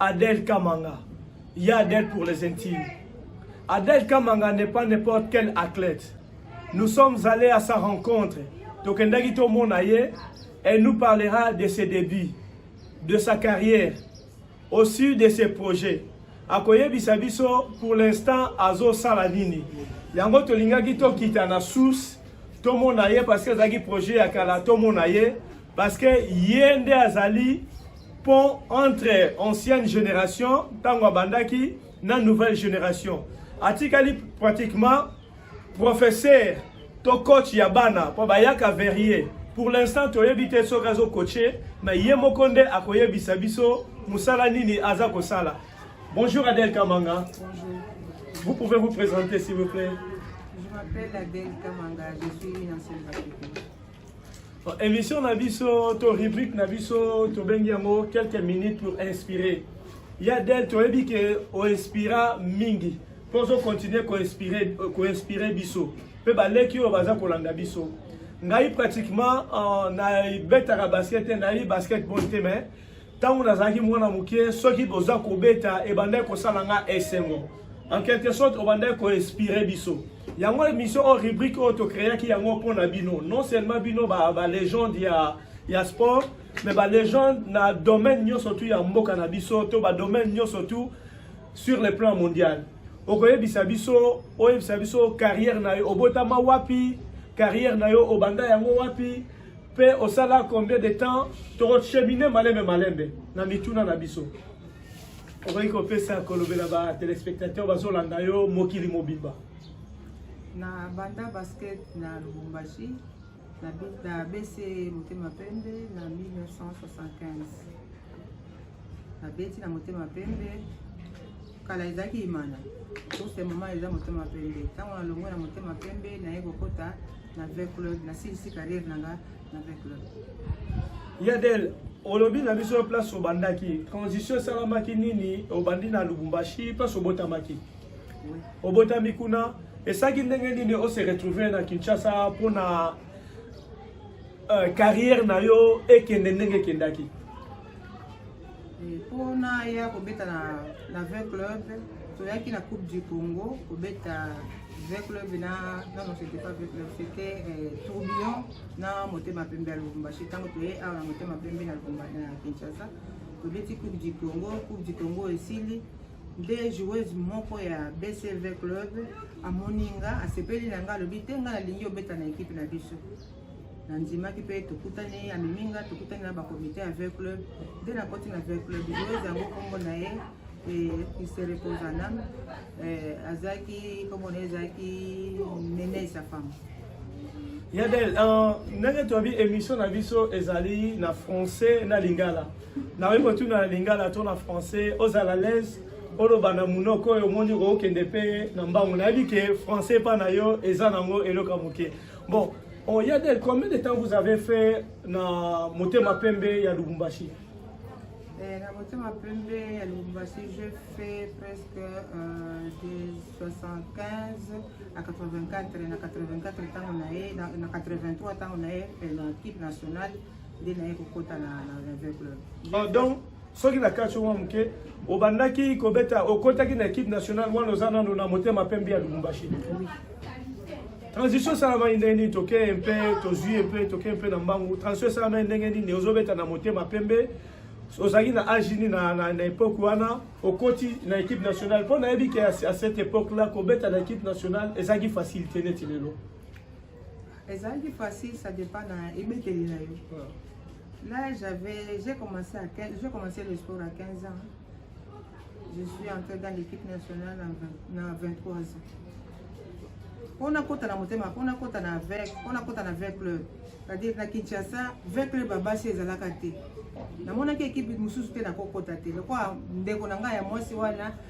Adèle Kamanga. Il y a Adèle pour les intimes. Adèle Kamanga n'est pas n'importe quel athlète. Nous sommes allés à sa rencontre. Tokendaki to monaye, elle nous parlera de ses débuts, de sa carrière, aussi de ses projets. akoyebisa biso pour l'instant azosala nini yango tolingaki tokita na source tomona ye parce que azalaki projet ya kala tomona ye parce que ye nde azali pont entre ancienne génération ntango abandaki na nouvelle génération atikali pratiquement professeur to coach ya bana mpo bayaka verrier pour l'instant toyebi te soki azokoche me ye moko nde akoyebisa biso mosala nini aza kosala bonjour adel kamanga bonjour. vous pouvez vous présenter s'il vous plaît je m'appelle adel kamanga je suis une ancienne Emission na biso to rubrique na biso tobengi yango quelques minutes pour inspirer. Ya Del toyebi ke o inspira mingi mpo ozo continuer ko inspirer ko inspirer biso mpe baleki oyo baza kolanda biso. Ngai pratiquement uh, na betaka basket te, nayebi basketball te mais ntango nazalaki mwana moke soki boza kobeta ebandaki kosala nga esengo en quelque sorte obandaki koinspire biso yango émission oyo rubrique oyo tocréaki yango mpo na bino non seulement bino balégende ba ya, ya sport mais balégende na domaine nyonso tu ya mboka na biso to badomaine nyonso tu sur le plan mondial okoyebisa biso oyebisa biso carrière na yo obotama wapi carrière na yo obanda yango wapi Pe osala combien de temps toko cheminer malembe malembe na mituna na biso. Okoki kopesa kolobela ba telespectateur bazolanda yo mokili mobimba. Na banda basket na Lubumbashi na bese motema pembe na 1975. Nabeti na motema pembe. Kala ezalaki imana. Sose mama eza motema pembe. Ntango nalongwe na motema pembe, naye kokota na V Club, nasilisi carrière na nga na V Club. Yadel, olobi na biso place obandaki, transition esalamaki nini? Obandi na Lubumbashi, place obotamaki. Oui. Obotami kuna, esaki ndenge nini ose retrouver na Kinshasa mpo na uh, carrière na yo ekende ndenge ekendaki? mpo na ya kobeta na, na 20 club toyaki na coupe du congo kobeta 20 club na nano c'était pas 20 club c'était eh, tourbillon na motema pembe ya lubumbashi ntango toye awa na motema pembe na lubumbashi na kinshasa tobeti coupe du congo coupe du congo esili nde joueuse moko ya bcv club amoni nga asepeli na nga alobi te nga nalingi obeta na ekipe na biso nandimaki mpe tokutani amemi nga tokutani na bacomité ya ver club nde nakoti na ver club joueuse yango nkombo na ye se repose en âme azalaki nkombo na ye ezalaki nene sa femme yadel euh, ndenge toyebi émission na biso ezali na français na lingala nakoki kotuna na lingala to na français ozala l'aise oloba na monoko oyo omoni okokende mpe na mbango nayebi ke français epa na yo eza nango eloko ya moke Bon, oh, Yadel, combien de temps vous avez fait na Motema Pembe ya Lubumbashi eh, Na Motema Pembe ya Lubumbashi, j'ai fait presque euh, de 75 à 84, na 84 ntango na ye, na, na 83 ntango na ye, na équipe nationale, nde na ye kokota na, na Rêve Club. Oh, donc soki na kati mwa moke obandaki kobeta okotaki na équipe nationale wana oza nano na motema pembe ya lubumbashi transition esalamaki ndenge nini toke mpe tozwi mpe toke mpe na mbangu transition esalamaki ndenge nini ozobeta na motema pembe ozalaki na age nini na, na, na epoque wana okoti na équipe nationale mpo nayebi ke à cette époque là kobeta na équipe nationale ezalaki facilité neti lelo ezalaki facile ça dépend na ebeteli na yo là j'avais j'ai commencé à 15 j'ai commencé le sport à 15 ans je suis entrée dans l'équipe nationale na 23 ans mpo nakota na motema mpo nakota na vec mpo nakota na vec club c'est-à-dire na kinshasa vec club ya basi ezalaka te namonaki ekipe mosusu te nakokota te lokola ndeko na ngai ya mwasi wana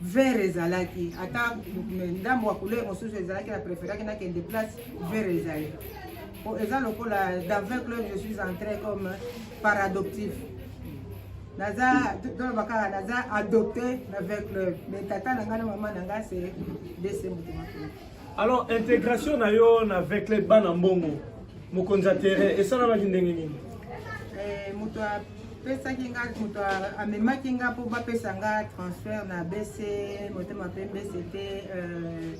vert ezalaki ata ndambo ya couleur mosusu ezalaki na preferaki nakende place vert ezali po eza lokola dans 20 club je suis entré comme par adoptif naza toloba kaka naza adopté na 20 club mais tata na ngai na mama na ngai se dese moto makolo alors intégration na yo na 20 club bana mbongo mokonzi ya terrain esalamaki ndenge nini eh, moto pesaki nga moto amemaki nga mpo bapesa nga transfert na bc motema mpe bc te euh,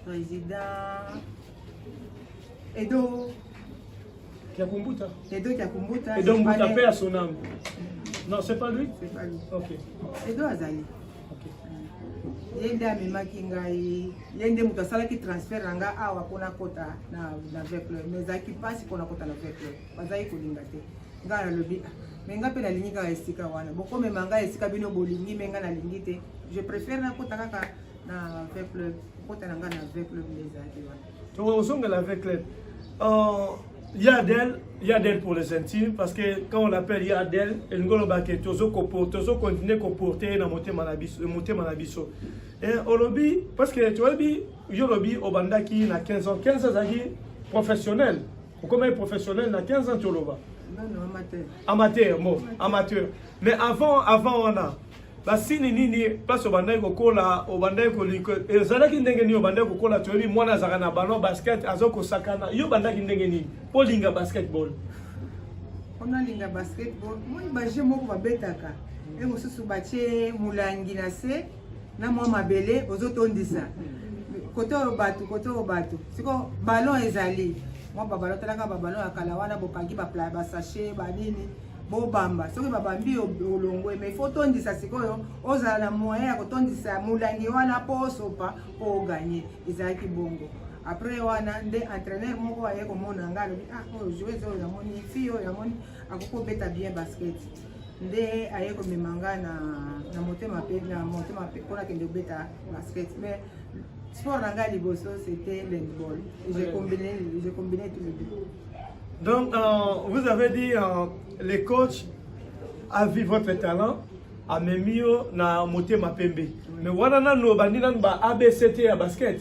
président edo kiakumbuta edo kiakumbuta edo mbuta mpe ya sonam non c'est pas lui c'est pas lui ok edo azali ye nde amemaki ngai ye nde moto asalaki transfert na ngai awa mpona kota na vecleur mais ezalaki mpasi mpona kota na vecleur bazali kolinga te ngai nalobi ah, me ngai mpe nalingi kaka esika wana bokomema ngai esika bino bolingi me ngai nalingi te je préfère nakota kaka na ve club kokota na ngai na ve club nde ezalaki wana tokozongela ve club euh, yadel yadel pour les intimes parce que quand on l'appelle yadel elingi oloba ke tozo continue koporte ye na motema na biso motema na biso eh, olobi parce que toyebi yo olobi obandaki na 15 ans 15 azalaki professionnel okomaki professionnel na 15 ans toloba amateur bon amateur mais avant avant wana basini nini place obandaki kokola obandaki koliko ezalaki ndenge nini obandaki kokola toyebi mwana azalaka na ballon basket aza kosakana yo obandaki ndenge nini mpo olinga basketball mpo nalinga basketball moi baje moko babetaka mpe mosusu batye molangi na se na mwa mabele ozotondisa kote oyo bato kote oyo bato siko ballon ezali mwa babalo talaka babalo ya kala wana bokangi basashe banini bobamba soki babambi olongwe mai fo otondisa sikoyo ozala na moyen ya kotondisa molangi wana mpo osopa mpo oganye ezalaki bongo après wana nde entraîneur moko aye komona ngai alobi ah oyo joueuse oyo yamoni fi oyo yamoni akoki kobeta bien basket nde aye komema nga na, na motema mpe na motema mpe mpo nakende kobeta basket mais sport na ngai liboso c'était handball je combine je combine tout le deux donc euh, vous avez dit euh, les coachs a vu votre talent amemi yo na motema pembe mais wana nanu obandi nanu ba abct ya basket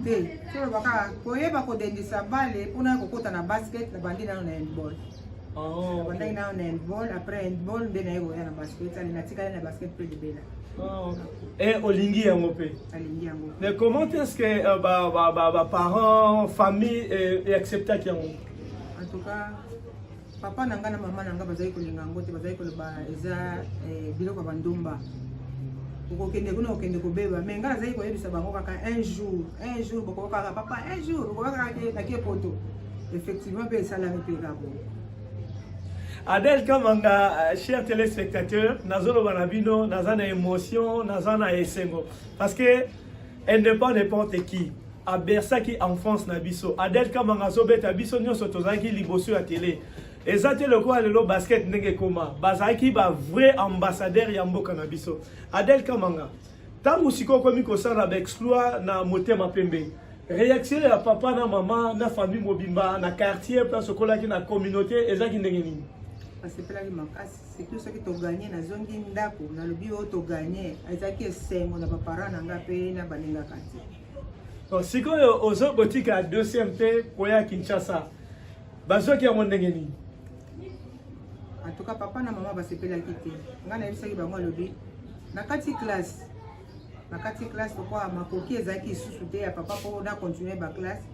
te toloba kaka koyeba kodendisa bale mpona ya kokota na basket nabandi nano na handball oh, nabandaki nano na handball après handball nde naye koya na basket ale natikali na basket mpe libela oh, eh, olingi yango mpe alingi yango mais comment est ce que euh, baparents famille euh, acceptaki yango en tout cas Papa na nga na mama na nga bazali kolinga yango te, bazali koloba eza eh, biloko ya bandumba okokende kuna okende kobeba me ngai nazali koyebisa bango kaka un jour un jour bokoba kaka papa un jour bokoba kaka nakie poto effectivement mpe esalami mpe kako Adèle Kamanga, euh, chers téléspectateurs, nazolo banabino, nazana émotion, nazana esengo. Parce que Elle n'est pas n'importe qui. abersaki enfance na biso adel kamanga azobeta biso nyonso tozalaki liboso ya tele eza te lokola lelo basket ndenge ekoma bazalaki ba vrai ambassadeur ya mboka na biso adel kamanga ntango sikoyo okomi kosala baexploit na motema pembe réaction ya papa na mama na famille mobimba na quartier place okolaki na communauté ezalaki ndenge nini asepelaki makasi surtout soki toganye nazongi ndako nalobi oyo toganye ezalaki esengo na baparent na nga mpe na balingaka te bon sikoyo ozo kotika deuxième te koya kinshasa bazwaki yango ndenge nini en tout cas papa na mama basepelaki te ngai nayebisaki bango alobi na kati classe na kati classe lokola makoki ezalaki lisusu te ya papa mpo na continue baclasse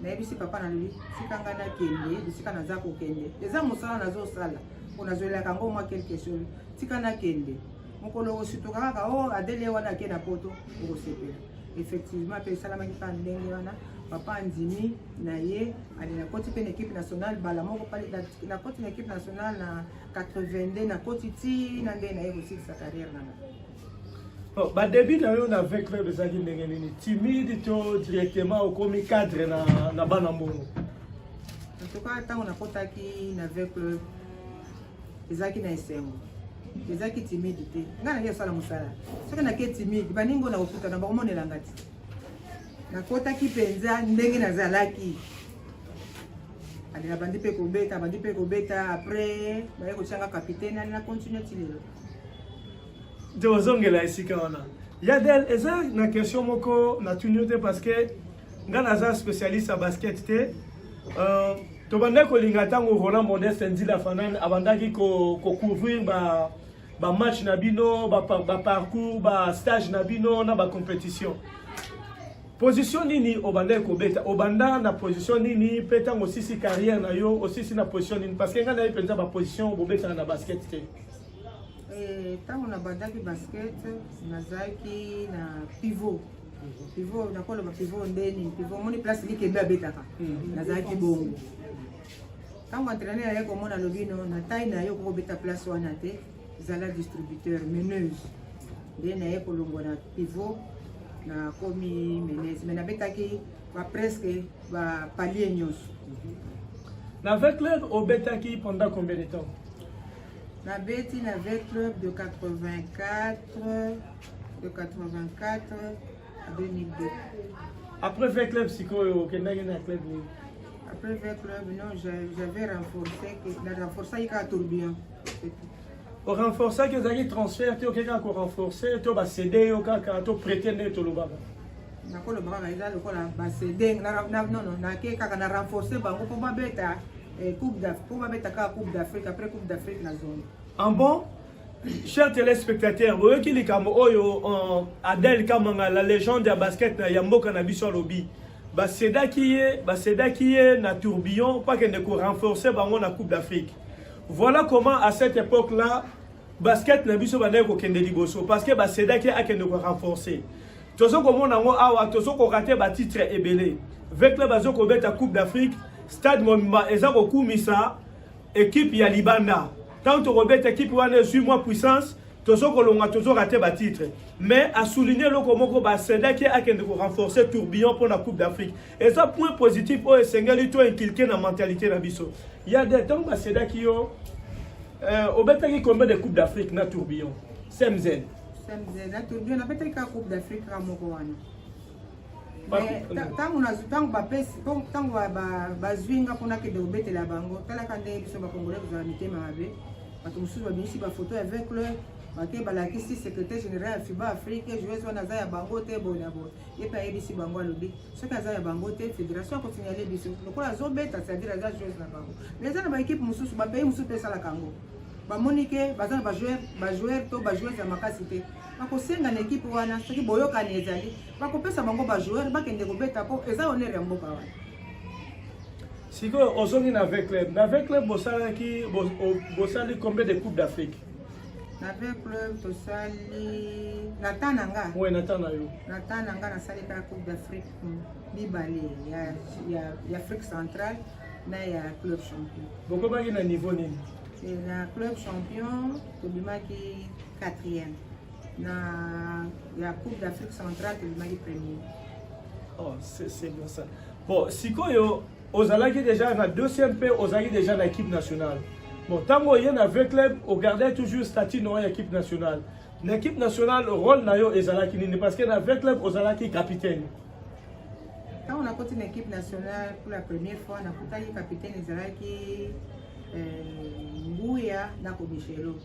nayebisi papa nalobi tika ngai nakende bisika naza kokende eza mosala nazosala mpo nazwelelaka yango mwa kelke solo tika nakende mokolo okosutuka kaka o oh, adele wana ake na poto okosepela effectivement mpe esalamaki kaka ndenge wana papa andimi na ye ali nakoti mpe na ekipe nationale bala moko pale nakoti na ekipe nationale na 82 nakoti ti na ndenge na ye kosilisa carrière nanga Ba début na yo na V Club ezalaki ndenge nini? Timide to directement okomi cadre na na bana mbongo? En tout cas, ntango nakotaki na V Club ezalaki na esengo ezalaki timide te ngai nake kosala mosala soki nake timide baningo na kokutana bakomonelanga te nakotaki mpenza ndenge nazalaki ade nabandi mpe kobeta abandi mpe kobeta après baye kotyanga kapitaine ali na continue ti lelo te ozongela esika wana ya del eza na question moko natuni yo te parce que nga naza spécialiste ya basket te euh, tobandaki kolinga ntango roland modeste nzila fanan abandaki kocouvrir ko ba bamatch na bino baparcours ba bastage na bino na bacompétition position nini obandaki kobeta obanda na position nini mpe ntango osisi carrière na yo osisi na position nini parce que ngai nayebi mpenza baposition bobetaka na basket te ntango eh, nabandaki basket nazalaki na pivot pivot nakoloba pivot nde nini pivot omoni place likembe abetaka hmm. nazalaki bongo ntango entraîneur aye komona lobi no na tai na ye okoki kobeta place wana te zala distributeur meneuse nde naye kolongwa na pivot nakomi meneuse mai nabetaki ba presque ba palier nyonso na 20 club obetaki pendant combien de temps nabeti na v club de 84 de 84 à 2002 après v club sikoyo okendaki na club nini après v club non j'avais renforcé na renforcaki kaka tourbillon orenforcaki ozalaki transfert te okeki kaka korenforce to basede yo kaka to prete nde tolobaka nakolobaka eza lokola basede nono nake kaka na renforce bango mpo babeta Eh, coupe d'Afrique. Pour mettre la Coupe d'Afrique, après Coupe d'Afrique, la zone. En bon, chers téléspectateurs, vous voyez qu'il est comme Oyo, euh, Adèle Kamanga, la légende de basket, Yambo Kanabiso Alobi. baseda ki ye baseda ki ye na tourbillon mpo akende korenforce bango na coupe d'afrique voilà comment à cette époque là basket na biso bandaki kokende liboso parce que basedaki akende korenforce tozo komona yango awa tozo koka te batitre ebele ve club azo kobeta coupe d'afrique stade mobimba eza kokumisa ekipe ya libanda ntango tokobeta ekipe wana ezwi mwa puissance tozo kolonga tozo rate batitre mais asouligne eloko moko basendaki akende korenforce tourbillon mpo na coupe d'afrique eza point positif oyo esengeli to inculke na mentalité na biso ya de ntango basendaki yo euh, obetaki combien de coupe d'afrique na tourbillon cmz ntango bapesi ntango bazwi nga mpo nakende kobetela bango talaka ndenge biso bakongole kozala mitema mabe bato mosusu babimisi bafoto ya vecle bake balakisi secrétaire général ya fiba afrique joueuse wana aza ya bango te boye na boye ye mpe ayebisi bango alobi soki aza ya bango te fédération akosignale biso lokola azobeta c'est-à-dire aza joueuse na bango mais eza na baekipe mosusu bapayi mosusu mpe esalaka yango bamoni ke baza na bajoueur bajoueur to bajoueuse ya makasi te bakosenga na ekipe wana soki boyokani ezali bakopesa bango bajoueur bakende kobeta mpo eza honere ya mboka wana sikoyo ozongi na ve club na ve club bosalaki bosali combien de coupe d'afrique na ve club tosali na ta na nga oui, na ta na yo na ta na nga nasali kaka coupe d'afrique mibale ya, ya, ya afrique centrale na ya club champion bokomaki na niveau nini eh, na club champion tobimaki quatrième na ya coupe d'afrique centrale tobimaki premier oh, c'est bon ça bon sikoyo ozalaki déjà na deuxième mpe ozalaki déjà na équipe nationale bon ntango oye na v club ogardai toujours statut noa ya équipe nationale na équipe nationale rôle na yo ezalaki nini parce que na v club ozalaki capitaine Ntango nakoti na equipe nationale pour la première fois, nakutaki capitaine ezalaki eh, Nguya na Komishelo.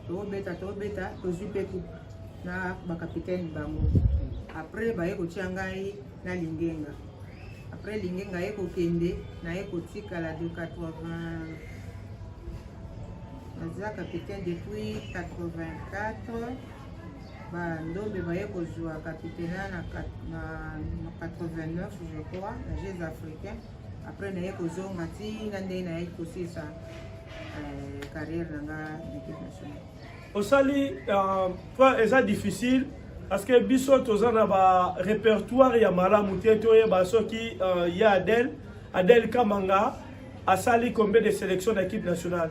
Tobeta tobeta tozwi mpe coupe na bakapitaine bango. Après baye kotia ngai na Lingenga. Après Lingenga ye kokende naye kotikala de 80 naza capitaine depuis 84 ba ndombe baye kozwa capitana na 89 je crois na jeux africain après naye kozonga ntina ndenge naye kosisa euh, carrière na nga d'équipe nationale osali euh, eza difficile parce que biso toza na ba répertoire ya malamu te toyeba soki euh, ya adel adel kamanga asali combien de sélection na équipe nationale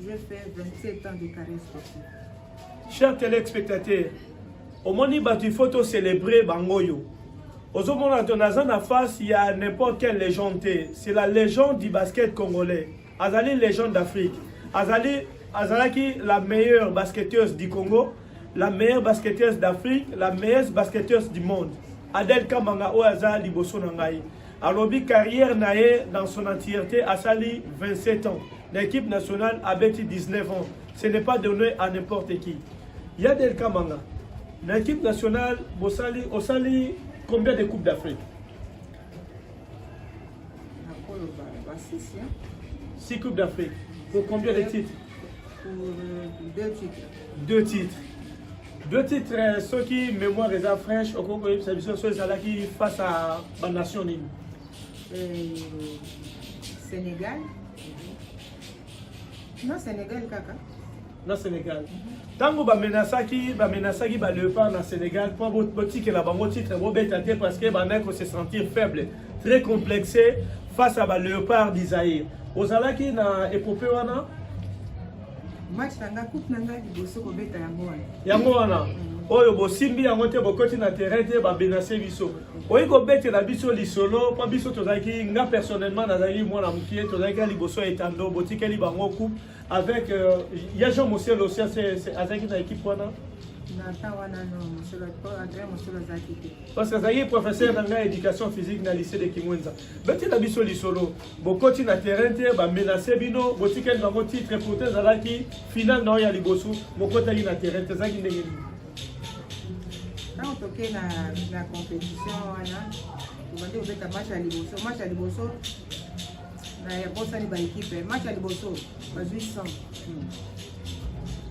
Je fais 27 ans de carrière sportive. Chers téléspectateurs, omoni bato il faut to célébrer bango oyo ozomona to naza na face ya n'importe quelle légende te c'est la légende du basket congolais azali légende d'afrique azali azalaki la meilleure basketteuse du congo la meilleure basketteuse d'afrique la meilleure basketteuse du monde adel kamanga oyo aza liboso na ngai alobi carrière na ye dans son entièreté asali 27 ans na équipe nationale abeti 19 ans ce n'est pas donné à n'importe qui ya del kamanga na équipe nationale bosali osali combien de coupe d'afrique six coupe d'afrique pour combien de titres pour euh, deux titres deux titres deux titres euh, soki mémoire eza fraîche okoki koyebisa biso soki ezalaki face à banation nini euh, sénégal na Sénégal kaka na Sénégal ntango bamenasaki bamenasaki ba leopard na Sénégal mpo botikela bango titre bobeta te parce que bandaki ko se sentir faible très complexé face à ba leopard du Zaïre ozalaki na epopée wana match na nga coupe na nga liboso kobeta yango wana yango wana mm. oyo bosimbi yango te bokoti na terrain te babenase biso oyi kobetela biso lisolo mpo biso tozalaki nga personnellement nazalaki mwana mokie tozalaki na liboso ya etando botikeli bango coupe avec euh, ya jean mosel aussi azalaki na équipe wana parce que azalaki professeur na ngai éducation physique na lycée de kimwenza betela biso lisolo bokoti na terrain te bamenace bino botikeli bango titre pourtant ezalaki finale na oyo ya liboso bokotaki na terrain te ezalaki ndenge nini ntango toke na, na compétition wana tobandi kobeta match ya liboso match ya liboso nabosani baekipe match ya liboso bazwi 100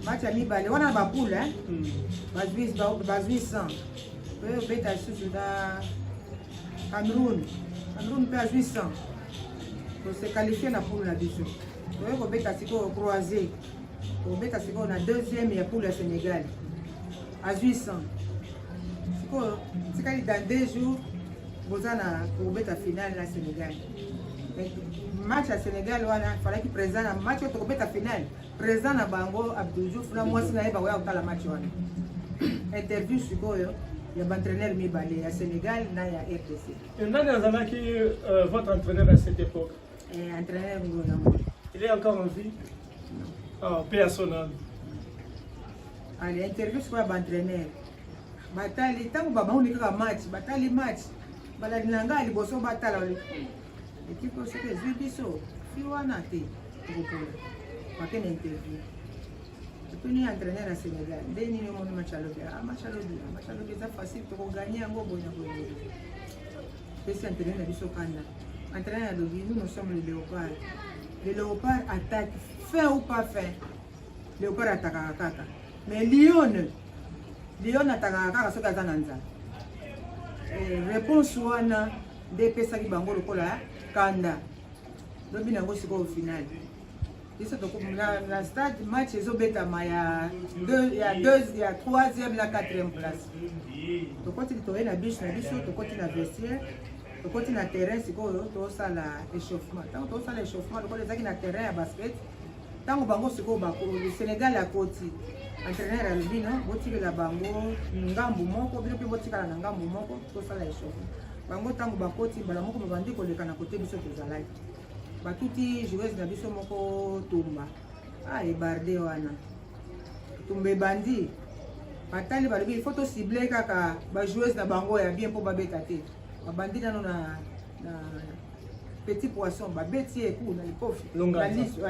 match ya mibale wana bapoule bazwi 100 pe obeta lisusu na cameroun cameroun mpe azwi 100 tose qualifie na poule na biso toye kobeta sikoyo croise kobeta sikoyo na deuxième ya poule ya Sénégal azwi 100 sikoyo tikali dans deux jours boza na kobeta finale na Sénégal match ya Sénégal wana falaki président na match oyo tokobeta finale président na bango Abdou Diouf na mwasi na ye bakoya kotala match wana interview sikoyo ya baentraîneur mibale ya Sénégal na ya RDC. Nani azalaki euh, votre entraîneur à cette époque Eh, entraîneur Ngola. Il est encore en vie. Ah, paix à son âme. Allez, ah, interview sur ba entraîneur. Batali tango baba on kaka match, batali match. Bala dinanga liboso batala. Ekipe oyo soki ezwi biso fi wana te tokopola make na interview tuni entraîneur ya sénégal nde nini omoni match alobi a ah, match alobi match alobi eza facile tokoganye yango boye na boye pesi entraîneur na biso kanda Entraîneur alobi nous nous sommes les léopards. Les léopards attaquent fin ou pas fin. Léopard atakaka kaka. Mais lion lion atakaka kaka soki aza na nzala. Eh, réponse wana nde epesaki bango lokola kanda. Lobi na yango sikoyo finale. biso tokomona na stade match ezobetama ya ya deux ya troisième na quatrième place tokoti toye na biche na biso tokoti na vestiaire tokoti na terrain sikoyo tosala échauffement ntango tosala échauffement lokola ezalaki na terrain ya basket ntango bango sikoyo bakoli sénégal akoti entraîneur alobi no botikela bango ngambu moko bino mpe botikala na ngambu moko tosala échauffement bango ntango bakoti mbala moko babandi koleka na kote biso tozalaki batuti joueuse na biso moko tumba ah ebarde wana tumba ebandi batali balobi ifo tosible kaka bajoueuse na bango ya bien mpo babeta te babandi nano na, na petit poisson babeti ye ku na likofi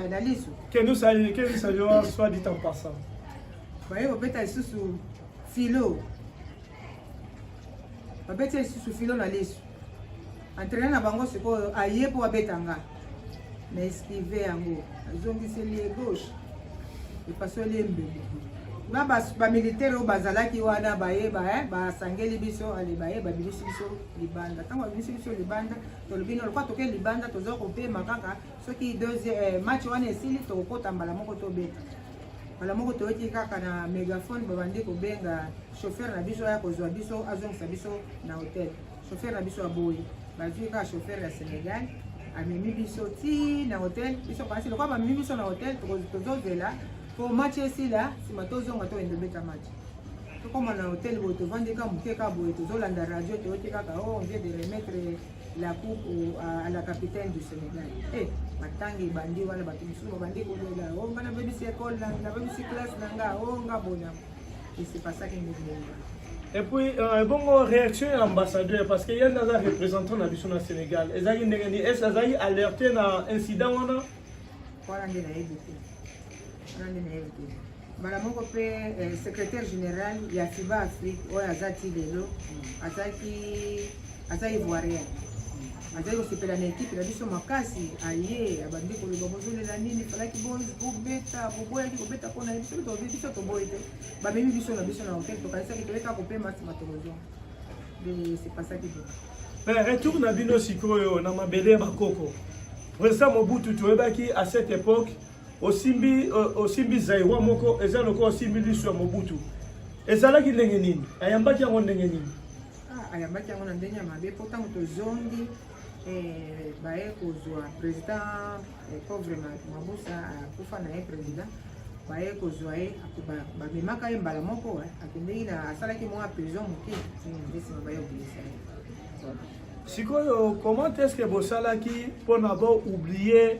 na liso kenusayoa soit dit en passant baye babeta lisusu filo babeti ye lisusu filo na liso Entraîneur na bango sikoyo aye mpo abeta nga na esquive yango azongiseli ye gauche epasoli ye mbeli na bamilitaire oyo bazalaki wana bayeba basangeli biso ale baye babimisi biso libanda ntango babimisi biso libanda tolobi na lokola toke libanda toza kopema kaka soki eh, match wana esili tokokota mbala moko tobeta mbala moko toyoki kaka na megafone babandi kobenga chauffeur na biso aya kozwa biso azongisa biso na hotel chauffeur na biso aboyi bazwi kaka chauffeur ya senegal amemi biso ti na hotel biso kasi lokola bamemi biso na hotel tozozela po match esila nsima tozonga toyende obeta match tokoma na hotel boye tovandi ka moke ka boye tozolanda radio toyoki kaka o oh, vie de remettre la coupe au, à, à la capitaine du Sénégal. Eh, hey, matanga ebandi wana bato mosusu babandi kolela o oh, nga nabebisi ekole na nabebisi classe na nga o oh, nga bona esepasaki ndenge Et puis, euh, bon, réaction à l'ambassadeur, parce qu'il y a des représentants de au Sénégal. Est-ce qu'ils ont alerté un incident Voilà, il y a beaucoup. nani na ye te mbala moko mpe eh, secrétaire général ya fiba afrique oyo aza ti lelo azalaki aza ivoirien azali kosepela na ekipe na biso makasi aye abandi koloba bozolela nini falaki bobeta boboyaki kobeta mpo na ye biso tobi biso toboyi te bamemi biso na biso na hotel tokanisaki toyeka kopema nsima tokozwa de sepasaki bo eh, retour na bino sikoyo na mabele ya bakoko président mobutu toyebaki à cette époque osimbi osimbi zairoi moko eza lokola osimbi liso ya mobutu ezalaki ndenge nini ayambaki yango ndenge nini ah, ayambaki yango na ndenge ya mabe mpo ntango tozongi eh, baye kozwa président eh, pauvre mabusa akufa na ye président baye kozwa ye bamemaka ye mbala moko eh, akendeki na asalaki mwa prison moke nde nsima baye obimisa ye sikoyo comment est ce que bosalaki mpona boublie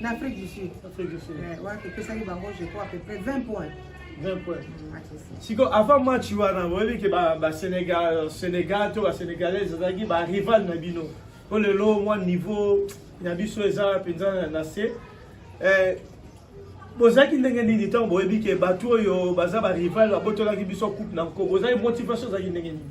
na Afrique du Sud. Afrique du Sud. Ouais, ouais, que ça y bango, je crois à peu près 20 points. 20 points. Mm, siko avant match wana boyebi ke basénégal sénégal to basénégalais ezalaki barival na bino mpo lelo mwa niveau na biso eza mpenza na se eh, bozalaki ndenge nini ntango boyebi ke bato oyo baza barival babotolaki biso coupe na nko bozalaki motivation ezalaki ndenge nini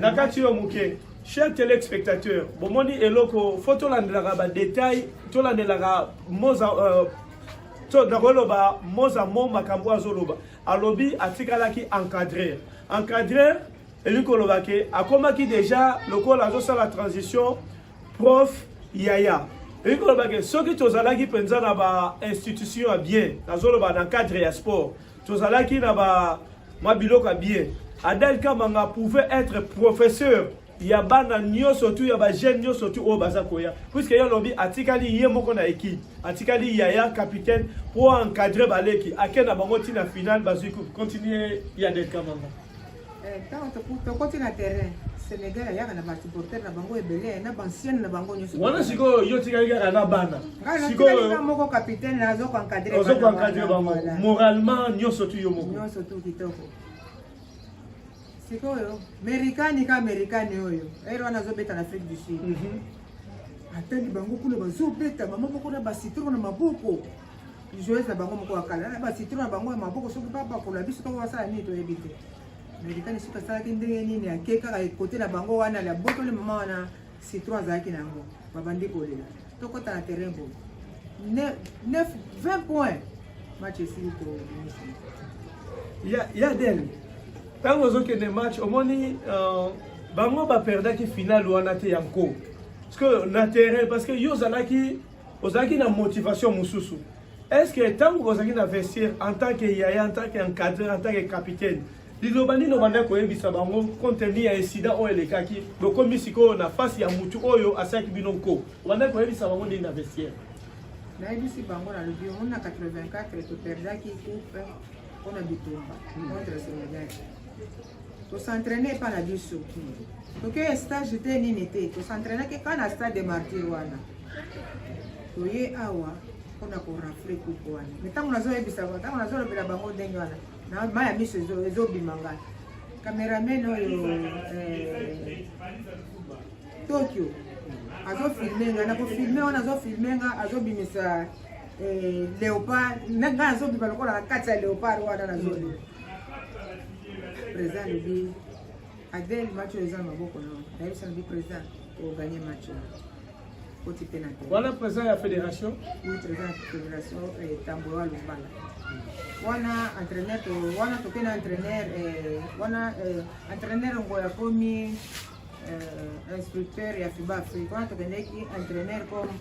na kati yo moke cher telespectateur bomoni eloko fo tolandelaka badetail tolandelaka moza euh, to nakoloba moza mo makambo azoloba alobi atikalaki encadrer encadrer elingi koloba ke akomaki déjà lokola azosala transition prof yaya elingi koloba ke soki tozalaki mpenza na bainstitution ya bien nazoloba na cadre ya sport tozalaki na ba mwa biloko ya bien adel kamanga pouvait être professeur ya bana nyonso tu ya bajeune nyonso tu oyo baza koya puiske ye alobi atikali ye moko na ekipe atikali yaya capitaine mpo encadre baleki ake na bango ntina finale bazwi continue ya del kamanga Eh, tokoti na terrain Sénégal ayaka na ba supporters na bango ebele na ba anciennes na bango nyonso. Wana sikoyo yo tikali kaka na bana. Sikoyo nga moko capitaine na zo encadrer bango. Ozo encadrer bango moralement nyonso tu yo moko. Nyonso tu kitoko. Sikoyo Amerikani ka Amerikani oyo. Ero wana zo beta na Afrique du Sud. Mhm. Atali bango kuna bazo beta mama moko na ba citron na maboko. joueuse na bango moko ya kala na basitro na bango ya maboko soki babakola biso to basala nini toyebi te meritani soki asalaki ndenge nini ake kaka ekote na bango wana labotoli mama wana citron azalaki na yango babandi kolela tokota na terrain bo 20 point match esili kominisa ya del ntango ozokende match omoni euh, bango baperdaki finale wana te ya nko parce que na terrain parce que yo ozalaki ozalaki na motivation mosusu est-ce que ntango bozalaki na vestiaire en tant que yaya en tant que encadreur en tant que capitaine liloba nini obandaki koyebisa bango konteni ya esida oyo elekaki bokomi sikoyo na fasi ya motu oyo asalaki bino nko obandaki koyebisa bango nini na vestiaire nayebisi bango nalobi yango na 84 toperdaki coupe mpo na bitumba contre senegal tosentraine epa na biso tokeya stage te nini te tosentrainaki ka na stade de martyr wana toye awa mpona korafle kuku wana me ntango nazoyebisa ntango nazolobela bango ndenge wana na mai ya miso ezobima ngai cameraman oyo eh, tokyo azofilme nga nakofilme wana azofilme nga azobimisa eh, leopard ngai azobima lokola na kati ya leopard wana nazoli Président alobi Adèle match oyo eza na maboko na nayebisa na bi président oganye match oyo koti mpe na te wana président ya fédération oui président ya fédération eh, tamboyo alumbala wana entraîneur wana toke na entraîneur eh, wana eh, entraîneur ngo akomi instructeur ya fiba afrique wana tokendeki entraîneur comme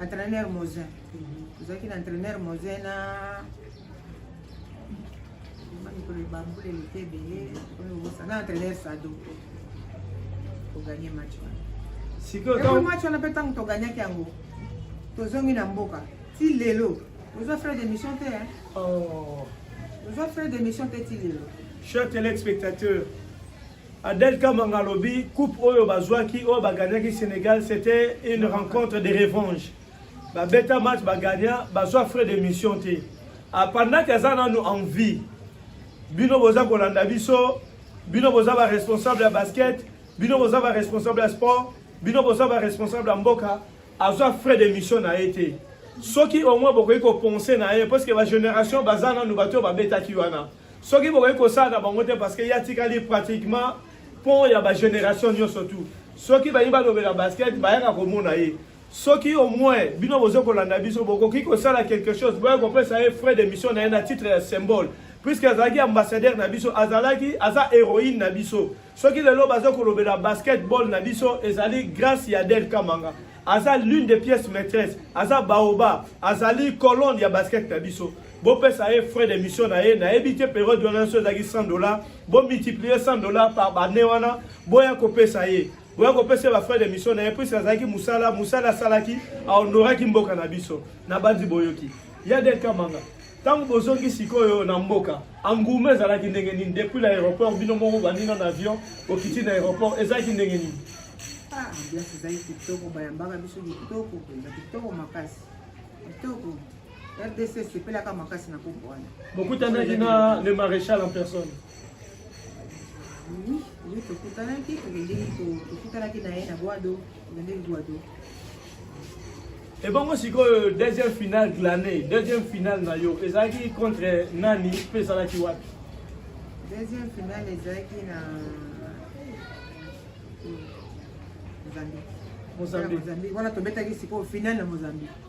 entraîneur mosin tozalaki na entraîneur mosin na mikolo ebambula eleki ebele oyo obosa na entraîneur sado koganye match wana sikoyo match wana mpe ntango toganyaki yango tozongi na mboka ti lelo ozwa frais d'émission te oh. ozwa frais d'émission te ti lelo cher téléspectateur Adel Kamanga alobi coupe oyo bazwaki oyo baganyaki Sénégal c'était une rencontre de revanche ba beta match ba gagnant ba soit frais de mission te a pendant que aza nanu en vie bino boza kolanda biso bino boza ba responsable ya basket bino boza ba responsable ya sport bino boza ba responsable ya mboka azwa frais de mission na ye te soki au moins bokoki kopense na ye parce que ba génération baza nanu bato oyo babetaki wana soki bokoki kosala na bango te parce que ye atikali pratiquement pont ya ba génération nyonso tout soki bayi balobela basket bayaka komona ye soki au moins bino bozo kolanda biso bokoki kosala quelque chose boya kopesa ye frais d'émission na ye na titre ya symbole puisque azalaki ambassadeur na biso azalaki aza héroïne na biso soki lelo baza kolobela basketball na biso ezali grâce ya del kamanga aza l'une des pièces maîtresse aza baoba azali colonne ya basket na biso bopesa ye frais d'émission na ye nayebi te periode wana nyonso ezalaki 100 dollar bomultiplier 100 dollar par bane wana boya kopesa ye boya kopesa ba frère de mission na ye puisque azalaki mosala mosala asalaki aonoraki mboka na biso na banzi boyoki ya del kamanga ntango bozongi sikoyo na mboka engouement ezalaki ndenge nini depuis na aéroport bino moko bandino na avion okiti na aéroport ezalaki ndenge nini ah, ambiance ezalaki kitoko bayambaka biso kitoko mpenza kitoko makasi kitoko rdc esepelaka makasi na kombo wana bokutanaki na le maréchal en personne Oui, ye tokutanaki tokendeki tokutanaki na ye na gwado tokendeki gwado ebongo sikoyo deuxième finale glane deuxième finale na yo ezalaki contre nani mpe ezalaki wapi deuxième finale ezalaki na mozambique wana tobetaki sikoyo finale na mozambique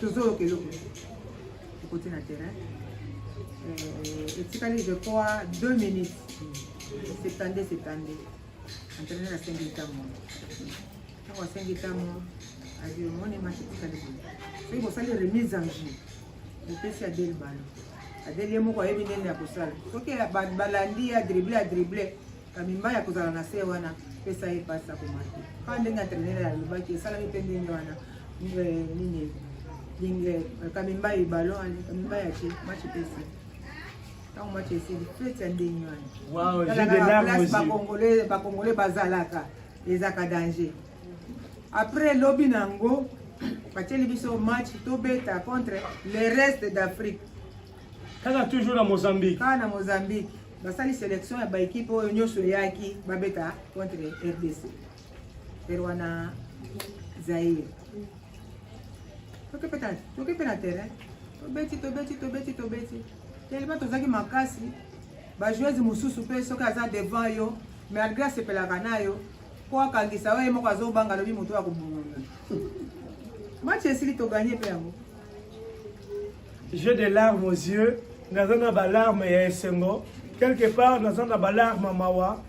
tozoyoka eloko ekoti na terrain euh, etikali je crois deux minutes septande septande entraîner na sengi ntango ntango asengi ntango adi omoni match etikali boye soki bosali remise en jeu bopesi adele balo adele ye moko ayebi ndenge ya kosala soki balandi ya drible ya drible Kamimba ya kozala na se wana pesa ye pasi akomaki kaka ndenge entrainere alobaki esalami mpe ndenge wana eh, nini lingle eh, kamimba ye ballon ani kamimba ya ce match pesi ntango match esili feti ya ndenge wana bakongole bazalaka ezaka danger après lobi na yango batieli biso match tobeta contre le reste d'afrique kaka toujours na mozambique kaka na mozambique basali selection ya baekipe oyo nyonso eyaki babeta contre rdc tere wana zaire toke mpe na terrain tobeti tobeti tobeti tobeti telema tozalaki makasi bajoueuse mosusu mpe soki aza devant yo malgré asepelaka na yo mpo akangisa yo ye moko azobanga alobi moto ya kobongola match esili toganye mpe yango J'ai des larmes aux yeux, naza na ba larmes ya esengo. Quelque part naza na ba larmes mawa.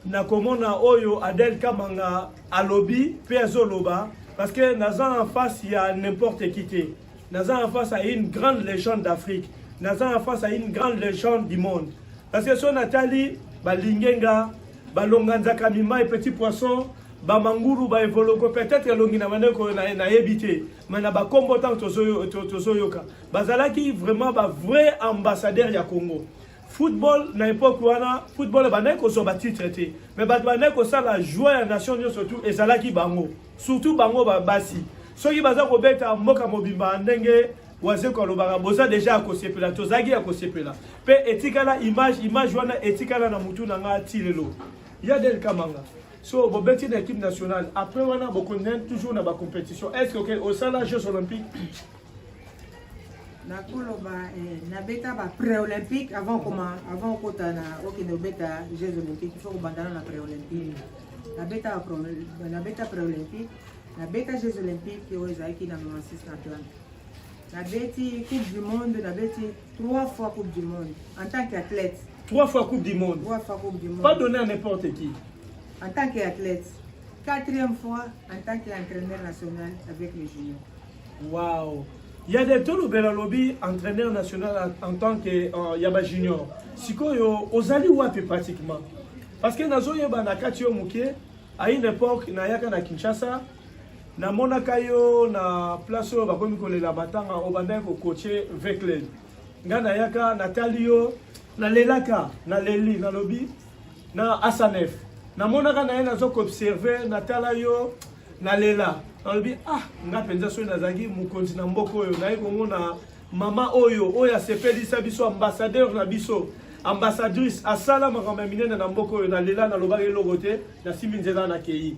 Nakomona oyo Adel Kamanga alobi pe azoloba parce que naza en face ya n'importe qui te. Naza en face à une grande légende d'Afrique. Naza en face à une grande légende du monde. Parce que son atali balingenga balonga nzaka mimai petit poisson bamangulu baevoloko peut-être elongi na bandeko nayebi te mai na bakombo ntango tozoyoka bazalaki vraiment bavrai ambassadeur ya congo football na époque wana football ebandaki kozwa batitre te mai bato bandaki kosala joi ya nation nyonso tu ezalaki bango surtout bango babasi soki baza kobeta mboka mobimba ndenge wazeko alobaka boza deja ya kosepela tozalaki ya kosepela mpe etikala image image wana etikala na mutu na ngai ti lelo ya del kamanga so bobeti na équipe nationale après wana bokontinue toujours na bacompétition est ce que osala jeux olympique nakoloba eh, nabeta ba pré-olympique avant koma avant okota na okende obeta jeux olympique fo kobandana na pré-olympique nabeta pré-olympique nabeta jeux olympique oyo ezalaki na 96 na atlante nabeti coupe du monde nabeti trois fois coupe du monde en tant qu'athlète trois fois coupe du monde trois fois coupe du monde pas donné à n'importe qui en tant qu'athlète quatrième fois en tant qu'entraîneur national avec les juniors waouh il y a des tolo bela lobi entraîneur national en tant que euh, yaba junior sikoyo ozali wapi pratiquement parce que nazoyeba na kati yo moke à une époque nayaka na kinshasa namonaka yo na place oyo bakomi kolela matanga obandaki kokoche vecled ngai nayaka natali yo nalelaka naleli nalobi na asanef namonaka na ye nazo koobserve natala yo nalela nalobi ah ngai mpenza soki nazalaki mokonzi na mboka oyo naye komona mama oyo oyo asepelisa biso ambassadeur na biso ambassadrice asala makambo ya minene na mboka oyo nalela nalobaki eloko te nasimbi nzela nakei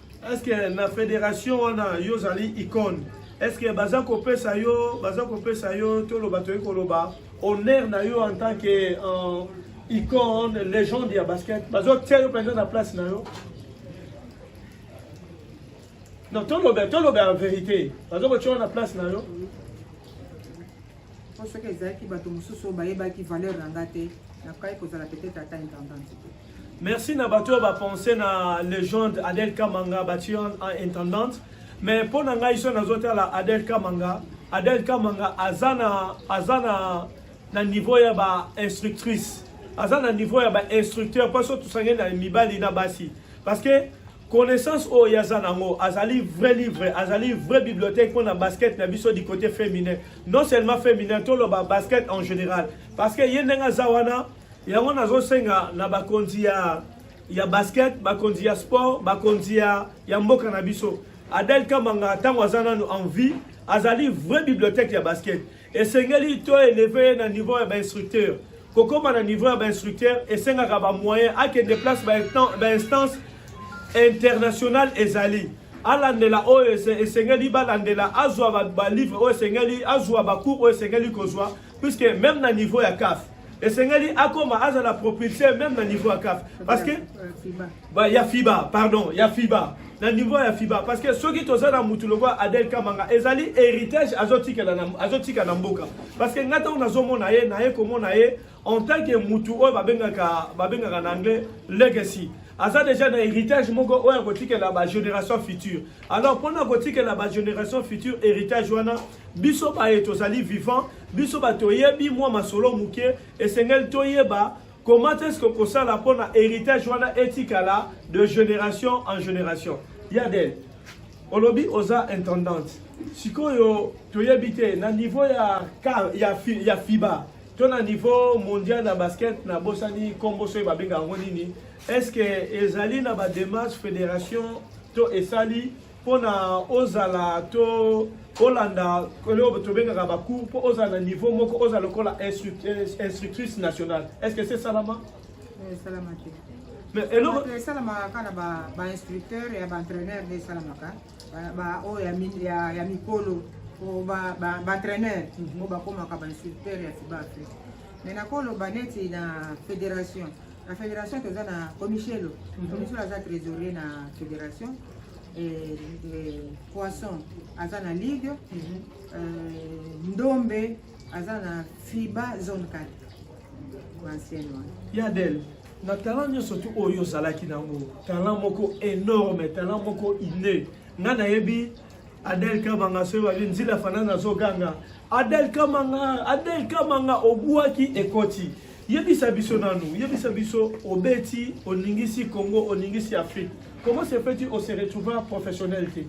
Est-ce que na fédération wana yo zali icône? Est-ce que baza kopesa yo, baza kopesa yo toloba toyei koloba honneur na yo en tant que euh, icône, légende ya basket? Bazo tia yo mpenza na place na yo? Non, toloba, toloba en vérité. Bazo kotia yo na place na yo? mpo soki ezalaki bato mosusu oyo bayebaki valeur na nga te nakokaki kozala peut-être ata intendante te merci na bato oyo bapense na legende adel kamanga batie en intendante mais mpo na ngai so nazotala adel kamanga adel kamanga aza na aza na na niveau ya ba instructrice aza na niveau ya ba instructeur mpo so tosangani na mibali na basi parce que connaissance oyo yaza nango azali vrai livre azali vrai bibliothèque mpo na basket na biso du côté féminin non seulement féminin toloba basket en général parce que ye ndenge aza wana yango nazosenga na bakonzi ya ya basket bakonzi ya sport bakonzi ya, ya mboka na biso adel kamanga ntango aza nanu en vie azali vrai bibliothèque ya basket esengeli to eleve ye na niveau ya bainstructeur kokoma na niveau ya bainstructeur esengaka bamoyen akende place bainstance internationale ezali alandela oyo esengeli balandela azwa balivre oyo esengeli azwa bacours oyo esengeli kozwa puisque même na niveau ya caf esengeli akoma azala propulseur même na niveau ya caf parce que ba ya fiba pardon ya fiba na niveau ya fiba parce que soki toza na mutu lokola adel kamanga ezali héritage azotikela na azotika na mboka parce que ngai ntango nazomona ye naye komona ye en tant que mutu oyo babengaka babengaka na anglais legacy aza déjà na héritage moko oyo akotikela ba génération future alors mpona kotikela ba génération future héritage wana biso baye tozali vivant biso bato oyebi mwa masolo moke esengeli toyeba comment est-ce que kosala mpo na héritage wana etikala de génération en génération yadel olobi oza intendante sikoyo toyebi te na niveau ya, ya, ya fiba to na niveau mondial ya basket nabosani nkombo soki babenga yango nini est ce que ezali na badémarche fédération to esali mpo na ozala to olanda oyo tobengaka bacour mpo ozala na niveau moko ozala lokola instructrice nationale est ce que se salama esalama te mais eloko esalamaka kaka na bainstructeur ya baentraîneur nde esalamaka baoyo ya mikolo baentraîneur oyo bakomaka bainstructeur ya fiba afrique mais nakoloba neti na fédération na federation toza na comichelo comichelo aza trésorier na federation poisson aza na ligue ndombe aza na fiba zone 4 ancienne wana yadel na talent nyonso tu oyo ozalaki nango talent moko énorme talent moko inné nga nayebi Adel Kamanga soki babi nzila fanana azoganga Adel Kamanga Adel Kamanga obuaki ekoti yebisa biso nanu yebisa biso obeti oningisi Congo oningisi Afrique comment se fait-il on se retrouve professionnel te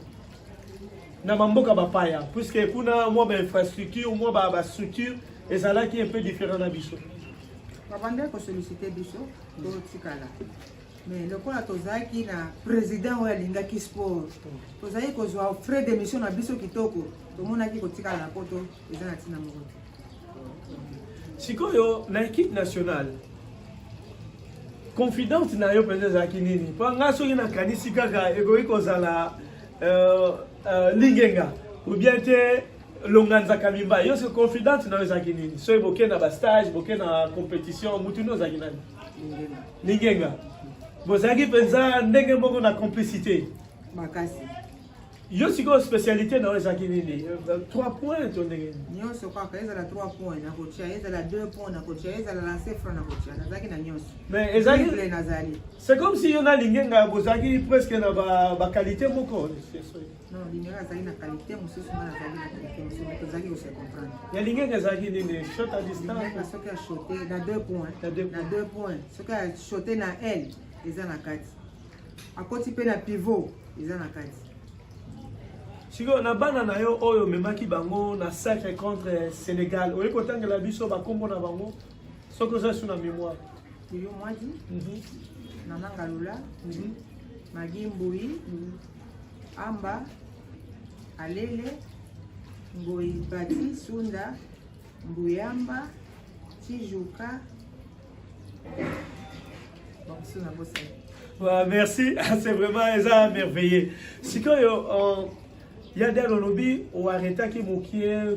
na bamboka bapaya puisque kuna mwa bainfrastructure mwa bastructure ezalaki un peu différent na biso babandaki kosollicite biso totikala mais lokola tozalaki na président oyo alingaki sport tozalaki kozwa frais d'émission na biso kitoko tomonaki kotikala na poto eza na ntina moko te sikoyo na équipe nationale confidente na yo mpenza ezalaki nini mpo ngai soki nakanisi kaka ekoki kozala euh, euh, lingenga ou bien te longanza kabimba yo se confidente na yo ezalaki nini soki bokenda bastage bokenda compétition motu nde ozalaki nani Lingenga. Bozalaki mpenza ndenge moko na complicité. Makasi. yo sikoyo spécialité na yo ezalaki nini euh, trois points to ndenge nini nyonso kaka ezala trois points nakotya ezala deux points nakotya ezala lance franc nakotya nazalaki na nyonso mais ezalaki nazali c'est comme si yo nalingi nga bozalaki presque na baqualité moko Non, Lingere azali na qualité mosusu ngai nazali na qualité mosusu mais tozalaki kose comprendre. Ya Lingere ezalaki nini? Shot à distance? Lingere soki ashote na deux points, na deux points, soki ashote na aile eza na kati, akoti mpe na pivot eza na kati. sikoyo na bana na yo oyo omemaki bango na sacre contre sénégal oye kotangela biso bakombo na bango soki oza su na mémoire yo mwadi mhm. nananga lula mhm. magi mbui mhm. Amba, Alele, Ngoyi Bati, Sunda, Mbuyamba, Tijuka, Bakusu na Bosani. Ouais, merci, c'est vraiment eza merveilleux. Sikoyo, euh, ya dal olobi oaretaki mokie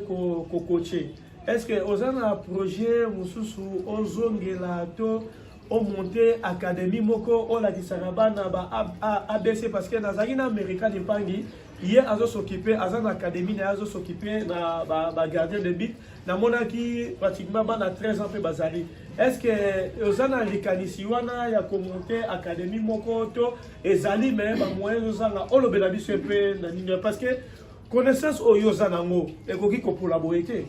kokoche. Ko Est-ce que oza na projet mosusu ozongela to o monte académie moko olakisaka bana ba abc parce que nazalaki na amerika lipangi ye azosokipe aza na académie na ye azosokipe na bagardien de but namonaki pratiquement bana 13 ans mpe bazali est ce que oza na likanisi wana ya komonte académie moko to ezali me bamoyen ezozanga olobela biso mpe na nini parce que connaissance oyo oza nango ekoki kopola boye te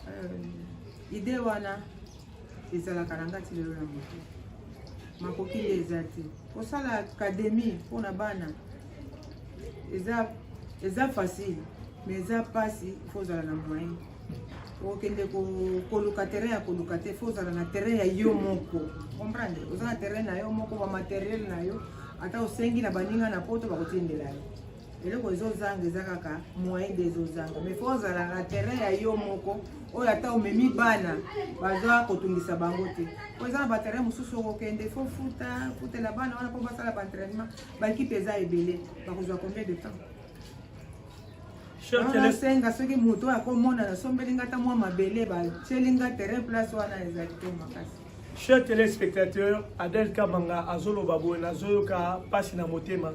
euh, idée wana ezalaka na ngati lelo na moto makoki nde eza te kosala akademie mpona bana eza eza facile mais eza mpasi ifo ozala na moyen okende koluka terrain ya koluka te fo ozala na terrain ya yo moko comprendre oza na terrain na yo moko bamateriel na yo ata osengi na baninga na poto bakotindela yo eloko ezozanga eza kaka moyen de ezozanga mais fo ozalaka terrain ya yo moko oyo ata omemi bana baza kotungisa bango te po eza na baterrain mosusu okokende fo futa futela bana wana mpo basala baentrainement baekipe eza ebele bakozwa combien de temps nasenga soki moto oyo akomona nasombeli nga ata mwa mabele batieli nga terrain place wana ezali te makasi Chers téléspectateurs, Adel Kamanga azoloba boye nazoyoka pasi na motema.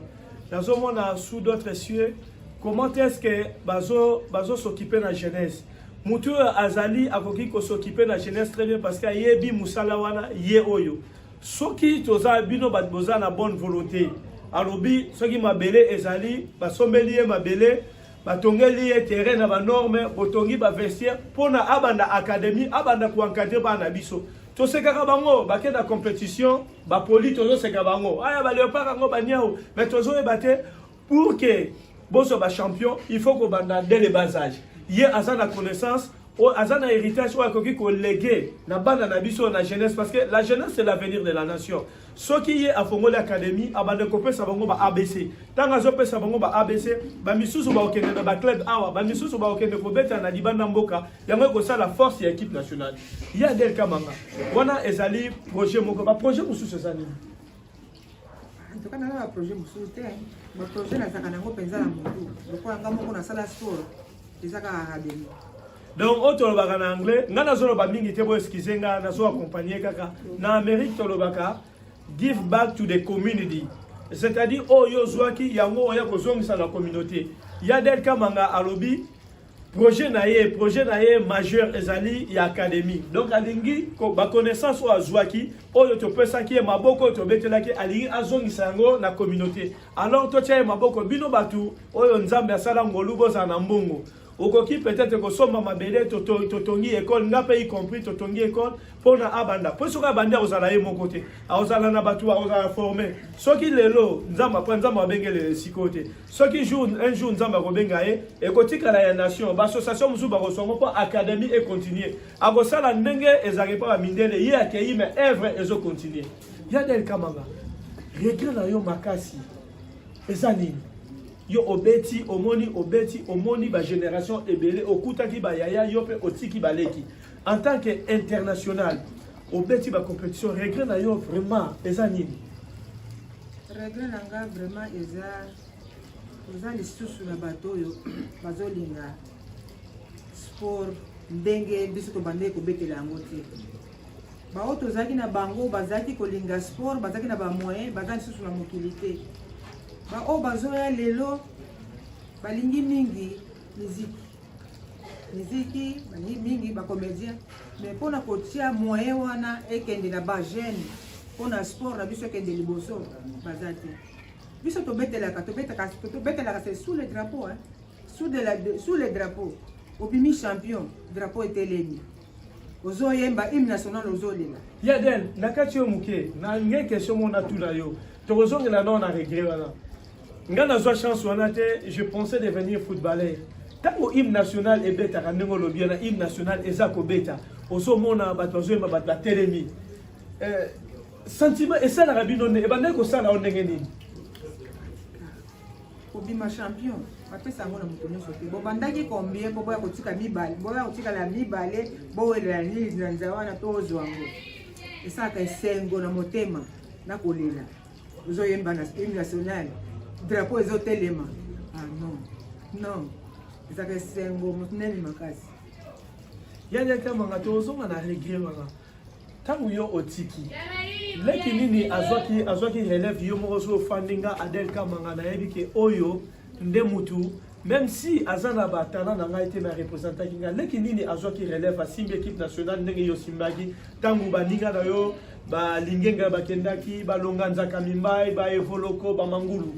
Nazomona sous d'autres cieux comment est-ce que bazo bazo s'occuper na jeunesse. Mutu azali akoki ko s'occuper na jeunesse très bien parce que ayebi musala wana ye oyo. Soki toza bino bat boza na bonne volonté. Alobi soki mabele ezali basombeli ye mabele batongeli ye terrain na banorme botongi bavestiaire mpo na abanda académie abanda koencadre bana na biso tosekaka bango bake na compétition bapoli tozoseka bango aya baleopaka yango baniao mais tozoyeba te pour ke bozwa bachampion il faut kobanda dès le bas age ye aza na connaissance oyo aza na héritage oyo akoki kolege na bana na biso na jeunesse parce que la jeunesse c'est l'avenir de la nation soki ye afongoli académie abanda kopesa bango ba abc ntango azopesa bango ba abc bamisusu bakokende na baclub awa bamisusu bakokende kobeta na libanda mboka yango ekosala force ya équipe nationale ya del kamanga wana ezali projet moko baprojet mosusu eza nini antuka nanga baprojet mosusu te baprojet nazaka nango mpenza na motu lokola nga moko nasala sport eza kaka rabeli donc oyo tolobaka na anglais ngai nazoloba mingi te bo excuse ngai nazo accompagne kaka na amérique tolobaka give back to the community c'est-à-dire oyo ozwaki yango oya kozongisa na communauté yadel kamanga alobi projet na ye projet na ye majeur ezali ya académie donc alingi baconnaissance oyo azwaki oyo topesaki ye maboko oyo tobetelaki alingi azongisa yango na communauté alors totia ye maboko bino bato oyo nzambe asala ngolu bozala na mbongo okoki peut-être kosomba mabele totongi ekole nga mpe y compris totongi ekole mpo na abanda mpo soki abandi akozala ye moko te akozala na bato akozala forme soki lelo nzambe apre nzambe abengelele sikoyo te soki jour un jour nzambe akobenga ye ekotikala ya nation baassociation mosusu bakosongo mpo académie econtinue akosala ndenge ezalaki mpo bamindele ye akei ma œuvre ezocontinue Ya Del Kamanga, regret na yo makasi eza nini? yo obeti omoni obeti omoni ba génération ebele okutaki ba yaya yo pe otiki baleki en tant que international obeti ba compétition regret na yo vraiment eza nini regret na nga vraiment eza oza lisusu na bato oyo bazolinga sport ndenge biso tobandaki kobetela yango te baoyo tozalaki na bango bazalaki kolinga sport bazalaki na bamoyen baza lisusu na mokili te baoyo bazoya lelo balingi mingi miziki miziki balingi mingi bacomédien mais mpona kotia moyen wana ekende na bajeune mpona sport na biso ekende liboso baza te biso tobetelaka tobetelaka se sous le drapeau hein? sous, de la, de, sous le drapeau obimi champion drapeau etelemi ozoyemba hymne national ozolela ya den na kati yo moke na nge question mona tuna yo tokozongela nao na regret wana ngai nazwa chance wana te je pensais devenir footballeur ntango hymne national ebetaka ndenge olobi wana hymne national eza kobeta ozomona bato bazoyemba bato batelemi eh, sentiment esalaka bino nde ebandaki kosala yo ndenge nini kobima champion bapesa yango na moto nyonso te bobandaki combien po boya kotika mibale boya kotikala mibale bowelela nini na nzela wana to ozwa yango esalaka esengo na motema na kolela ozoyemba na hymne national drapeau ezotelema ah non non ezalaka esengo monene makasi yadekambaka tozonga na regret wana ntango yo otiki leki nini azwaki azwaki relève yo moko soki ofandi nga adel kamanga nayebi ke oyo nde mutu même si aza na batala na ngai te me arepresentaki ngai leki nini azwaki relève asimbi équipe nationale ndenge yo osimbaki ntango baninga na yo balingenga bakendaki balonga nzaka mimbai baevoloko bamangulu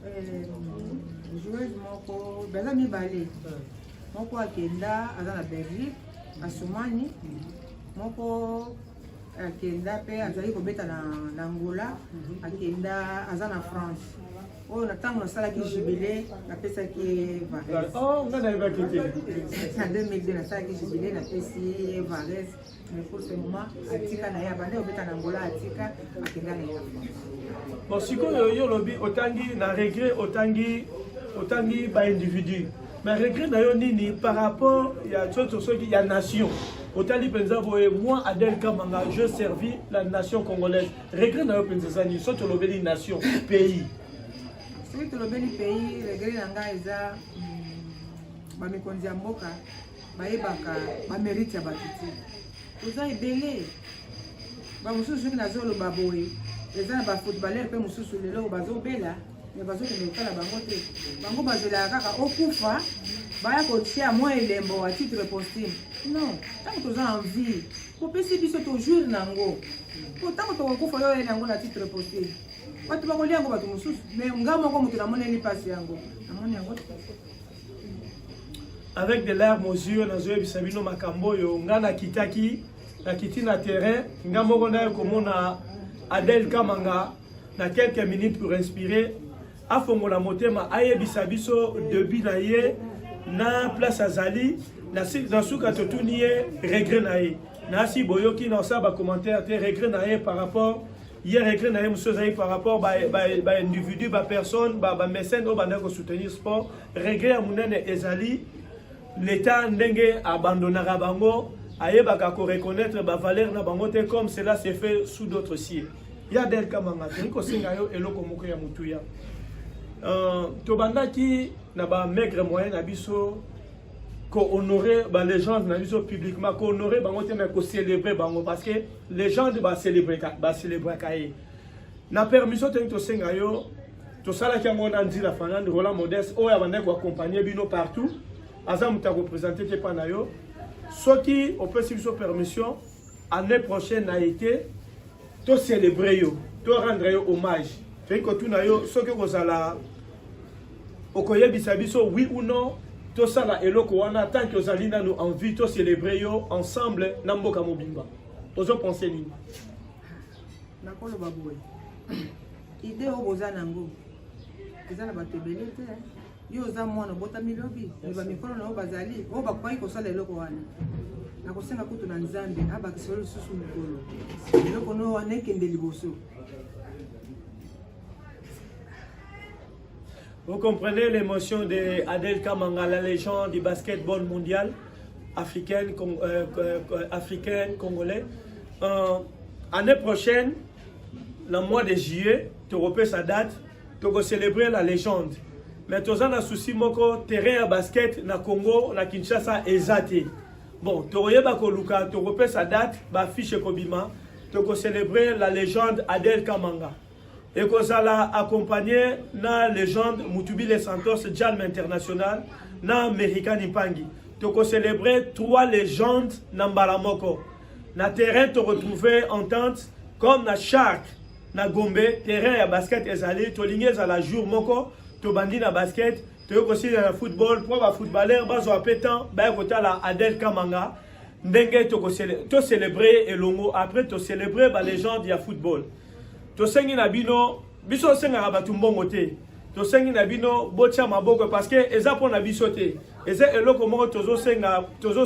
euh, joueuse moko baza mibale moko akenda aza na belgique Asumani moko akenda mpe azali kobeta na, na Angola mhm. akenda aza na France oyo na ntango nasalaki jubile napesaki ye vares oh, na 2002 nasalaki jubile napesi ye vares mais pour ce moment atika na ye abandi obeta na angola atika akenda na ye na france bon sikoyo yo olobi otangi na regret otangi otangi baindividu Mais regret na yo nini par rapport ya tsoto soki ya nation otali mpenza boye moi adel kamanga je servi la nation congolaise regret na yo mpenza eza nini soki tolobeli nation pays soki tolobeli pays regret na ngai eza hmm, bamikonzi ya mboka bayebaka bamerite ya bato te toza ebele bamosusu soki nazoloba boye eza na bafootballer mpe mosusu lelo bazobela me bazokende kotala bango te bango bazelaka kaka okufa baya kotia mwa elembo a titre postime non ntango toza en vie kopesi biso tojour na yango po ntango tokokufa yo oyena yango na titre postime bato bakolia yango bato mosusu me nga moko moto namoneli mpasi yango namoni yango avec de larmes aux yeux nazoyebisa bino makambo oyo nga nakitaki nakiti na terrain nga moko naye komona adel kamanga na quelques minutes pour inspirer afongola motema ayebisa biso debut na ye na place azali na suka totuni ye regret na ye nasi boyoki na osala bacommentaire te regret na ye par rapport ye regret na ye mosusu ezali par rapport baindividu ba, ba bapersonne bamécène oyo bandaki kosoutenir sport regret ya monene ezali l'état ndenge abandonaka bango ayebaka koreconnaitre bavaleur na bango te comme cela se fait sous d'autres cieux Ya Der Kamanga, tolingi kosenga yo eloko moko ya motuya. Euh, tobandaki na ba maigre moyen na biso kohonorer ba legende na biso publiquement kohonorer bango te mais kocélébrer bango parce que legende bacélébraka ye na permission tolingi tosenga yo tosalaki yango na nzila fanande roland modeste oyo abandaki koaccompagne bino partout aza moto ya kopresente te mpa na yo soki opesi biso permission Année prochaine na été to célébrer yo, to rendre yo hommage. Toyei kotuna yo soki okozala okoyebisa biso oui ou non tosala eloko wana tant que ozali nanu en vie to célébrer yo ensemble na mboka mobimba. Ozo penser nini? Nakoloba boye. Idée oyo boza nango eza na bato ebele te. yo oza mwana obotami lobi me bamikolo na yo bazali oyo bakokaki kosala eloko wana nakosenga kutu na nzambe abakisa yo lisusu mokolo eloko no wana ekende liboso Vous comprenez l'émotion de Adel Kamanga, la légende du basketball mondial africaine, con, euh, euh, africaine congolais. Euh, année prochaine, na mois de juillet tokopesa date tokocelebre la légende mais toza na souci moko terrain ya basket na congo na kinshasa eza te bon tokoyeba koluka tokopesa date bafiche ekobima tokocelebre la légende adel kamanga ekozala accompagné na légende mutubile santos jalme international na american impangi tokocelebre trois légendes na mbala moko Na terrain to retrouver entente comme na Shark na Gombe terrain ya basket ezali tolingi ezala jour moko tobandi na basket toyei kosila na football mpo bafootballeur bazwa mpe temps baye kotala Adel Kamanga ndenge tocelebre elongo après tocelebre balegende ya football tosengi na bino biso osengaka bato mbongo te tosengi na bino botya maboko parce que eza mpo na biso te eza eloko moko tozosala tozo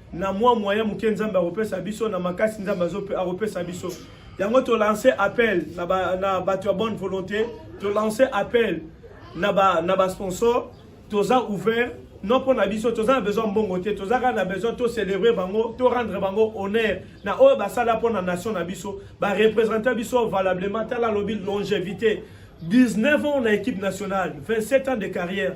na mwa moyen moke nzambe akopesa biso na makasi nzambe akopesa biso yango tolanse appel na bato ya bonne volonté tolanse appel na basponsor toza ouvert non mpo na biso toza na besoin mbongo te toza kaka na besoin tocélèbre bango torendre bango honneur na oyo basala mpo na nation na biso bareprésente biso valablement tala alobi longevité 19 ans na équipe nationale 27 ans de carrière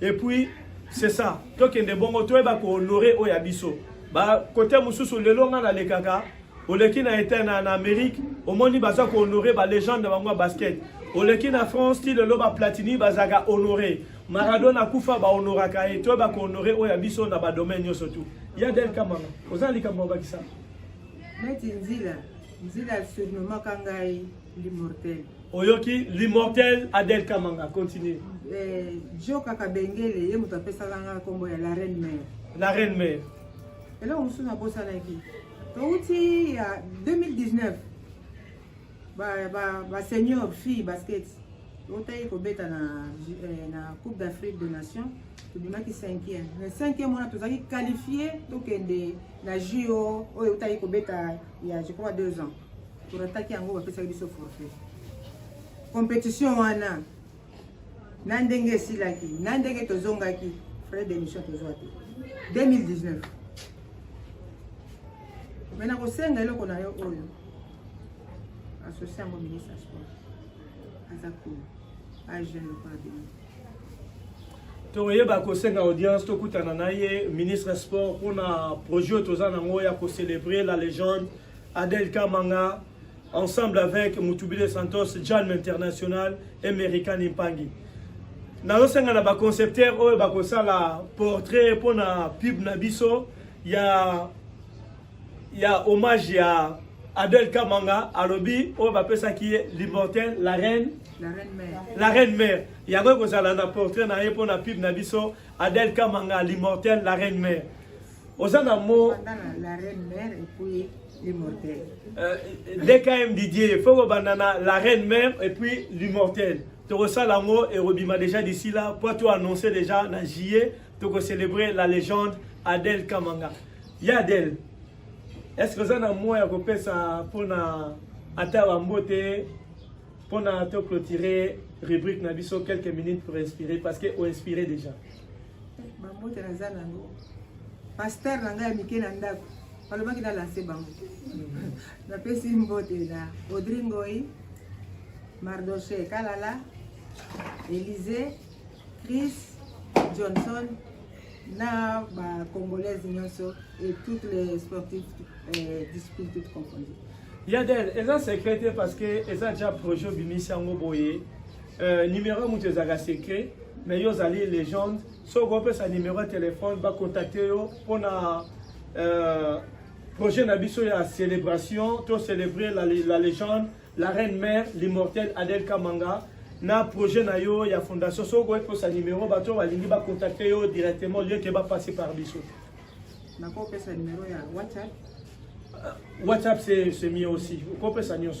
et puis c'est ça tokende bongo toyeba kohonore oyo ya biso bakote mosusu lelo ngai nalekaka oleki na etat na, na amérique omoni baza kohonore balégende na bango ya basket oleki na france ti lelo baplatini bazalaka honore maradona akufa bahonoraka ye toyeba kohonore oyo ya biso na badomaine nyonso tu ya del kamanga oza na likambo ya bakisa neti nzila nzila surnomaka ngai l'immortel oyoki l'immortel adel kamanga continue eh, jo kaka bengele ye moto apesaka nga nkombo ya la reine mare la reine mare eloko mosusu nabosanaki touti ya 2019 basenior ba, ba fille basket otayi kobeta na, eh, na coupe d'afrique de nation tobimaki 5e na 5e wana tozalaki qualifie tokende na juo oyo otayi kobeta ya je crois 2 ans torataki yango bapesaki biso forfait competition wana na ndenge esilaki na ndenge tozongaki frais d'émission tozwa te 2019 me nakosenga eloko na yo oyo asosie yango ministre ya sport aza kuna agene lokola bino tokoyeba kosenga audience tokutana na ye ministre ya sport mpona projet oyo toza nango ya kocelebre la légende Adel Kamanga, ensemble avec Mutubile Santos, Jan International et Merikan Impangi. nazosenga na baconcepteur oyo bakosala portrait mpo na pub na biso ya ya hommage ya adel kamanga alobi oyo bapesaki ye l'immortel la reine la reine mère yango ekozala na portrait na ye mpo na pub na biso adel kamanga l'immortel la reine mère oza na mo la reine mère et puis l'immortel euh, dkm didier faut kobanda na la reine mère et puis l'immortel tokosala yango ekobima déjà d'ici là mpo to annonce déjà na juillet tokocélébrer la légende adel kamanga ya adel est ce que oza na moya ya kopesa mpona ata bambote mpona toclotire rubrique na biso quelques minutes pour inspirer parce que oinspire déjà bambote naza nango paster na ngai ya mike na ndako balobaki na lanse bango napesi mbote na audri ngoi mardoche kalala elise chris johnson na bacongolaise nyonso et toutes les sportifs euh, discipline toute confondue yadel eza secret te parce que eza ja projet obimisi yango boye Euh, numéro mutu ezalaka secret mais yo ozali legende soki opesa numéro ya telefone bakontakte yo mpona euh, projet na biso ya célébration to célébrer la, la légende la reine mère l'immortelle adel kamanga na projet na yo ya fondation soki okoki kosa numéro bato balingi bakontakte yo directement lieu ke bapasse par biso nakopesa numéro ya whatsapp euh, whatsapp c'est mieux aussi okopesa nyonso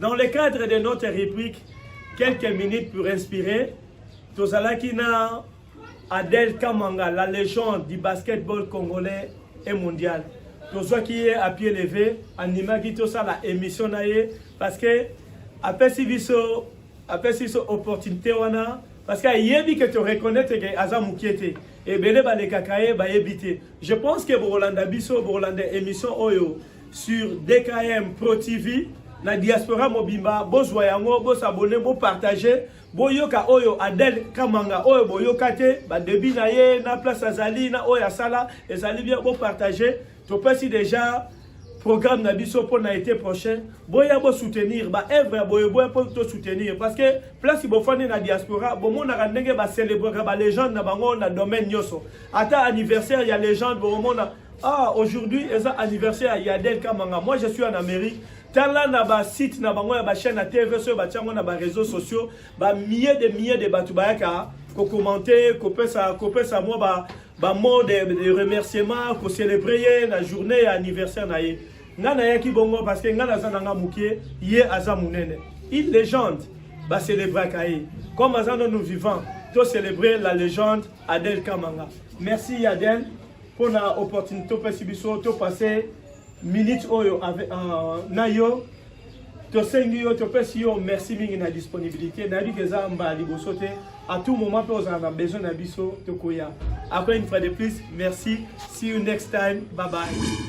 Dans le cadre de notre rubrique quelques minutes pour inspirer, tozalaki na Adel Kamanga, la légende du basketball congolais et mondial. tozwaki ye à pied levé andimaki tosala émission na ye parce que apesi biso apesi biso opportunité wana parce que ayebi ke toreconnaitre ke aza mokie te ebele balekaka ye bayebi te je pense ke bokolanda biso bokolanda émission oyo sur DKM Pro TV na diaspora mobimba bozwa yango bosabone bopartage boyoka oyo adel kamanga oyo boyoka te badebi na ye na place azali na oyo asala ezali bien bopartage topesi deja programme na biso mpo na été prochain boya bosoutenir baevre ya boye boya mpo tosoutenir parce que place bofandi na diaspora bomonaka ndenge bacelebraka balégende na bango na domaine nyonso ata anniversaire ya légende bokomona Ah, aujourd'hui, c'est anniversaire à Yadel Kamanga. Moi, je suis en Amérique. tala na basite na bango ya bachaîne ya tv soki batya yango na bareseau sociaux bamie de mie de bato bayaka kokommente kopesa kopesa mwa ba bamot de, de remerciement kocelebre ye na journée ya anniversaire na ye ngai nayaki bongo parce que ngai naza na ngai moke ye aza monene une légende bacelebraka ye comme aza nanu vivant tocelebre la légende adel kamanga merci adel mpo na opportunité opesi biso topase minute oyo euh, na yo tosengi yo topesi yo merci mingi na disponibilité nayebi ke eza mbala liboso te à tout moment mpe ozala na besoin na biso tokoya après une fois de plus merci see you next time bye bye